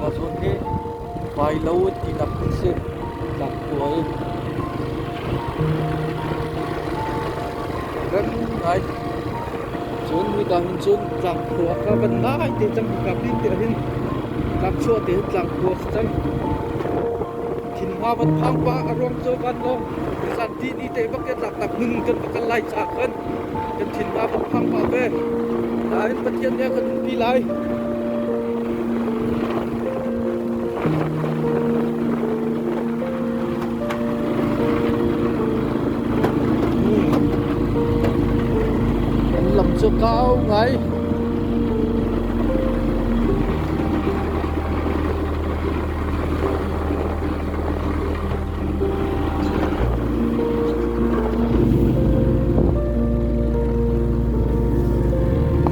Ka zun hi vailo ti tak a si, tlangpual. Kan ngai. Cun midang cun tlangkhua ka kan ngai te cang ka pin te hin tlangchua te tlangkhua si cang. Thinhwa van phang pa a ruang cho van lo. Zan ti ni te bak ke tlak tak nun kan pakan lai cha kan. Kan thinpa kan phang pah ve. Nain Pathian nih a kan umpi lai. Kan lam cu kau ngai.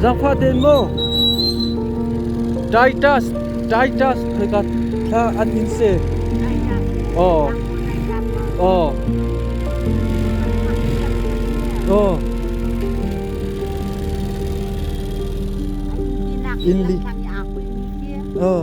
Zangfah ten maw Titus Titus khoika thla an in se aw aw aw in li aw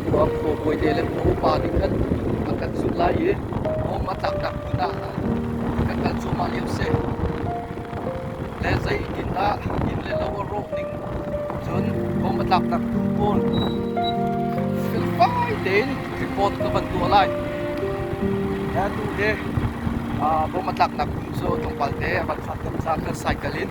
Khuang khaw bawite le khaw upa nih khan an kan zumh lai i hnawm a taktak hmun ah kan kal cuahmah lio a si. Le zeitindah inn le lo a rawh ning cun hnawm a taktak hmun pawl fel fai tein report ka van tuah lai. Le atu hi bom a tlaknak hmun cu tlawmpal te a van fak tuk caah kan cycle in